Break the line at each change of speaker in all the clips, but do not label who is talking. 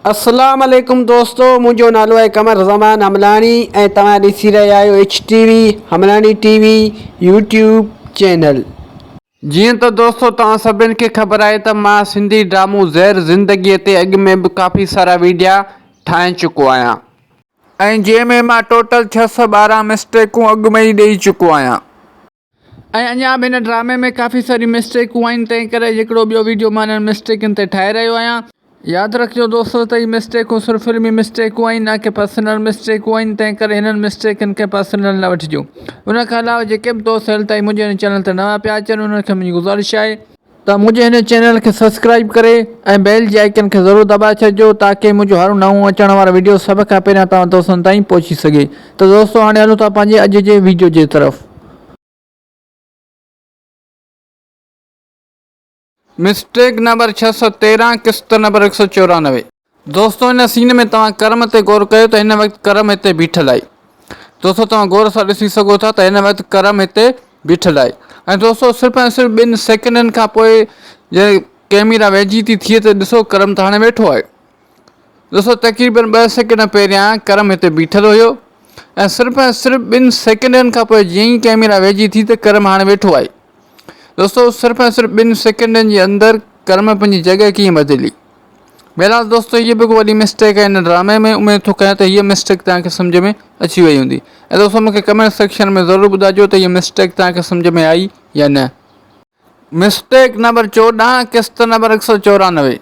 اسلام عليڪم دوستو منهنجو نالو آهي قمر زمان حملاڻي ۽ توهان ڏسي رهيا آهيو H T V Hamlani T V YouTube channel جيئن ته دوستو توهان سڀني کي خبر آهي ته مان سنڌي ڊرامو زهر زندگي تي اڳ ۾ به ڪافي سارا ويڊيا ٺاهي چڪو آهيان ۽ جنهن ۾ مان ٽوٽل ڇهه سؤ ٻارهن مسٽيڪون اڳ ۾ ئي ڏئي چڪو آهيان. ۽ اڃا به هن ڊرامي ۾ ڪافي ساريون مسٽيڪون آهن تنهن ڪري هڪڙو ٻيو ويڊيو مان انهن مسٽيڪن تي ٺاهي رهيو آهيان. ياد رکجو دوستو ته هي مسٽيڪون صرف فلمي مسٽيڪون آهن نه ڪي پرسنل مسٽيڪون آهن تنهن ڪري هنن مسٽيڪن کي پرسنل نه وٺجو ان کان علاوه جيڪي به دوست هيل تائين منهنجي هن چينل تي نوان پيا اچن انهن کي منهنجي گذارش آهي ته منهنجي هن چينل کي سبسڪرائيب ڪري ۽ بيل جي آئيڪن کي ضرور دٻائي ڇڏجو تاڪي منهنجو هر نئون اچڻ وارو ويڊيو سڀ کان پهريان توهان دوستن تائين پهچي سگهي ته دوستو هاڻي هلون ٿا پنهنجي اڄ جي ويڊيو جي طرف. مسٽيڪ نمبر ڇهه سؤ تيرهن قسط نمبر هڪ سؤ چورانوي. دوستو ان سين ۾ توهان ڪرم تي غور ڪيو ته هن وقت ڪرم هتي بيٺل آهي دوستو توهان غور سان ڏسي سگهو ٿا ته هن وقت ڪرم هتي بيٺل آهي ۽ دوستو صرف ۽ صرف ٻن سيڪنڊن کان پوء جڏهن ڪئميرا ويجهي ٿي ٿئي ته ڏسو ڪرم ته هاڻي ويٺو آهي دوستو تقريبن ٻه سيڪنڊ پهريان ڪرم هتي بيٺل هيو ۽ صرف ۽ صرف ٻن سيڪنڊن کان پوء جيئن ئي ڪئميرا ويجهي ٿي ته ڪرم هاڻي ويٺو آهي دوستو صرف ۽ صرف ٻن سيڪنڊن جي اندر ڪرم پنهنجي جڳهه ڪيئن بدلي بهرحال دوستو هيء به هڪ وڏي مسٽيڪ آهي هن ڊرامي ۾ اميد ٿو ڪيان ته هيء مسٽيڪ توهان کي سمجهه ۾ اچي وئي هوندي ۽ دوستو مونکي ڪمينٽ سيڪشن ۾ ضرور ٻڌائجو ته هيء مسٽيڪ توهان کي سمجهه ۾ آئي يا نه مسٽيڪ نمبر چوڏهن قسط نمبر هڪ سؤ چورانوي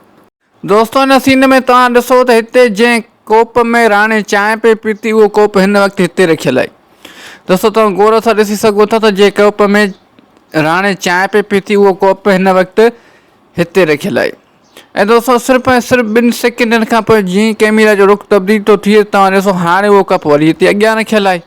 دوستو ان سين ۾ توهان ڏسو ته هتي جنهن ڪوپ ۾ راڻي چانهه پئي پيتي اهو ڪوپ هن وقت هتي رکيل آهي دوستو توهان غور سان ڏسي سگهو ٿا ته جنهن ڪوپ ۾ راڻي چانهه پئي پيتي اهو ڪوپ هن وقت هتي رکيل آهي ۽ دوستو صرف ۽ صرف ٻن سيڪنڊن کان پوء جيئن ڪيميرا جو رخ تبديل ٿو ٿئي توهان ڏسو هاڻي اهو ڪپ وري هتي اڳيان رکيل آهي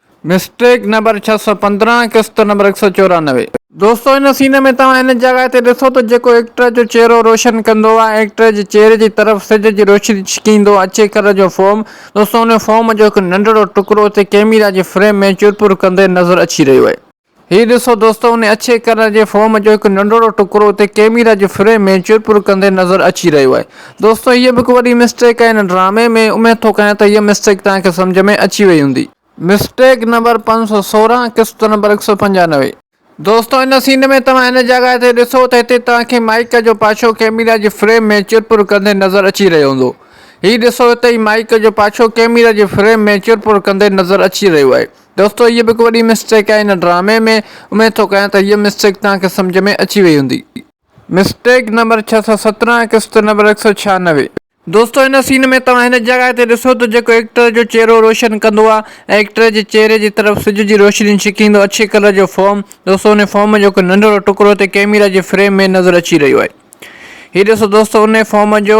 مسٽيڪ نمبر ڇهه سؤ پندرهن قسط نمبر هڪ سؤ چورانوي. دوستو ان سين ۾ توهان ان جاڳائي تي ڏسو ته جيڪو ايڪٽر جو چهرو روشن ڪندو آهي ايڪٽر جي چهري جي طرف سج جي روشني ڇڪيندو اچي ڪلر جو فوم دوستو ان فوم جو هڪ ننڍڙو ٽڪرو اتي ڪيميرا جي فريم ۾ چرپر ڪندي نظر اچي رهيو آهي. هي ڏسو دوستو ان اڇي ڪلر جي فوم جو هڪ ننڍڙو ٽڪرو اتي ڪيميرا جي فريم ۾ چرپر ڪندي نظر اچي رهيو آهي دوستو هيء به هڪ وڏي مسٽيڪ آهي هن ڊرامي ۾ اميد ٿو ڪيان ته هيء مسٽيڪ توهان کي سمجهه ۾ اچي وئي هوندي. مسٽيڪ نمبر پنج سؤ سورهن قسط نمبر هڪ سؤ پنجانوي. دوستو ان سين ۾ توهان هن جڳهه تي ڏسو ته هتي توهان کي مائيڪ جو پاڇو ڪيميرا جي فريم ۾ چرپر ڪندي نظر اچي رهيو هوندو هي ڏسو هتي هي مائيڪ جو پاڇو ڪيميرا جي فريم ۾ چرپر ڪندي نظر اچي رهيو آهي دوستو هيء به هڪ وڏي مسٽيڪ آهي هن ڊرامي ۾، اميد ٿو ڪيان ته هيء مسٽيڪ توهان کي سمجهه ۾ اچي وئي هوندي. مسٽيڪ نمبر ڇهه سؤ سترهن قسط نمبر هڪ سؤ ڇهانوي. دوستو هن سين ۾ توهان هن جڳهه تي ڏسو ته جيڪو ايڪٽر جو چهرو روشن ڪندو آهي ۽ ايڪٽر جي چهري جي طرف سج جي روشني ڇڪيندو اڇي ڪلر جو فوم دوستو ان فوم جو هڪ ننڍڙو ٽڪرو اتي ڪيميرا جي فريم ۾ نظر اچي رهيو آهي. هي ڏسو دوستو انهي فارم جو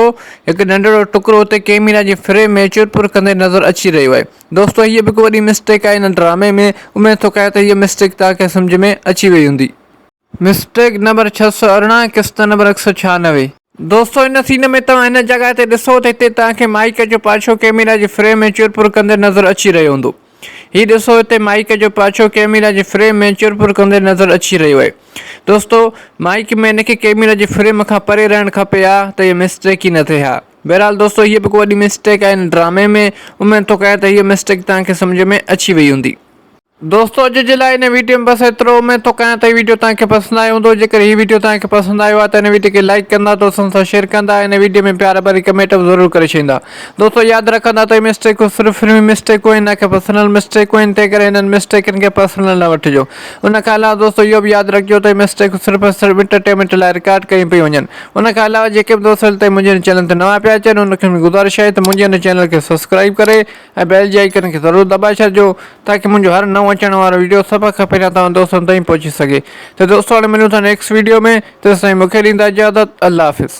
هڪ ننڍڙو ٽڪرو اتي ڪيميرا جي فريم ۾ چور پور ڪندي نظر اچي رهيو آهي دوستو هيء به هڪ وڏي مسٽيڪ آهي هن ڊرامي ۾ اميد ٿو ڪيان ته هيء مسٽيڪ توهان کي سمجهه ۾ اچي وئي هوندي. مسٽيڪ نمبر ڇهه سؤ ارڙهن قسط نمبر هڪ سؤ ڇهانوي. دوستو هن سين ۾ توهان هن جڳهه تي ڏسو ته هتي توهان کي مائيڪ جو پاڇو ڪيميرا جي فريم ۾ چور پور ڪندي نظر اچي رهيو هوندو. هي ڏسو هتي مائيڪ جو پاڇو ڪئميرا جي فريم ۾ چر پور ڪندي نظر اچي رهيو آهي. دوستو مائيڪ ۾ هن کي ڪئميرا جي فريم کان پري رهڻ کپي ها ته هيء مسٽيڪ ئي نه ٿئي ها. بهرحال دوستو هيء به ڪو وڏي مسٽيڪ آهي هن ڊرامي ۾ اميد ٿو ڪيان ته هيء مسٽيڪ توهان کي سمجهه ۾ اچي وئي هوندي. دوستو اڄ جي لاء هن ويڊيو ۾ بس ايترو اميد ٿو ڪيان ته هي ويڊيو توهان کي پسند آيو هوندو جيڪڏهن هي ويڊيو توهان کي پسند آيو آهي ته هن ويڊيو کي لائيڪ ڪندا دوستن سان شيئر ڪندا هن ويڊيو ۾ پيار ڀري ڪمينٽ به ضرور ڪري ڇڏيندا دوستو ياد رکندا ته اهي مسٽيڪون صرف فلمي مسٽيڪون آهن نه ڪي پرسنل مسٽيڪون آهن تنهن ڪري هنن مسٽيڪن کي پرسنل نه وٺجو ان کان علاوه دوستو اهو به ياد رکجو ته اهي مسٽيڪون صرف ۽ صرف انٽرٽينمينٽ لاء رڪارڊ ڪيون پيون وڃن ان کان علاوه جيڪي به دوست هلي تائين منهنجي هن چينل تي نوان پيا اچن ان کي گذارش آهي ته منهنجي هن چينل کي سبسڪرائيب ڪري ۽ بيل جي آئيڪن کي ضرور دٻائي ڇڏجو تاڪي منهنجو هر نئون اچڻ وارو ويڊيو سڀ کان پهريان توهان دوستن تائين پهچي سگهي ته دوستو هاڻي ملون ٿا نيڪسٽ ويڊيو ۾ تيسين تائين مونکي ڏيندا اجازت الله حافظ.